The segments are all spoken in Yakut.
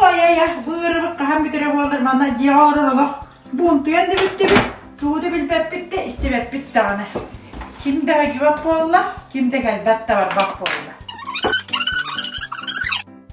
Ай-ай, быырыбык хаһан бүтэрэ буолар, манна дьиэҕэ олорор олох буунтуйан да бүттүбүт, тугу да билбэппит да, истибэппит даҕаны. Ким бэҕэдьибэк буолла, ким да кэлбэт да барбат буолла.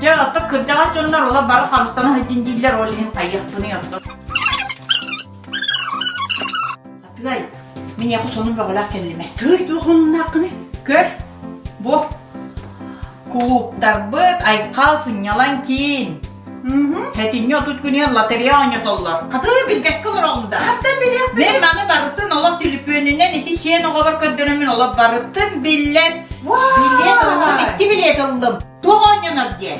Дьэ, оттон кырдьаҕас дьоннор ола бары харыстана сылдьын дииллэр, ол иһин хайыахпыный оттон. Атыай, мин яку сонун бөҕөлөөх кэллимэ. Тыый, туох оннунааккыны? Көр, бу кулууптарбыт айхал сынньалан киин. Хэтинньи отут күнүн лотерея оонньотоллор. Хатыы билбэккэ олороллур да. Хаттан билиэх Мен маны барытын олох түлүпүөнүнэн ити сиэн оҕобор көрдөнөмүн олох барытын биллэн. Билиэт ыллым, икки билиэт ыллым. Туох оонньонор диэ?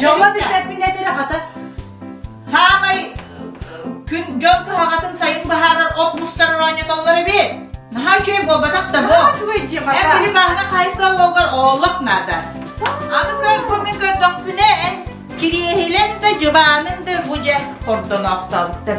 Дьоҥҥо билбэппинэ бэрэ хата. Саамай күн дьон кыһаҕатын сайын быһаарар от мустар оонньотоллор эбит. Наһаа үчүгэй буолбатах да бу. Эн били бааһына хаайсыла уолгар олох наада. Аны көрбүмүн көрдөхпүнэ эн кириэһилэн да дьыбаанын да бу дьэ хордоноохтообуттар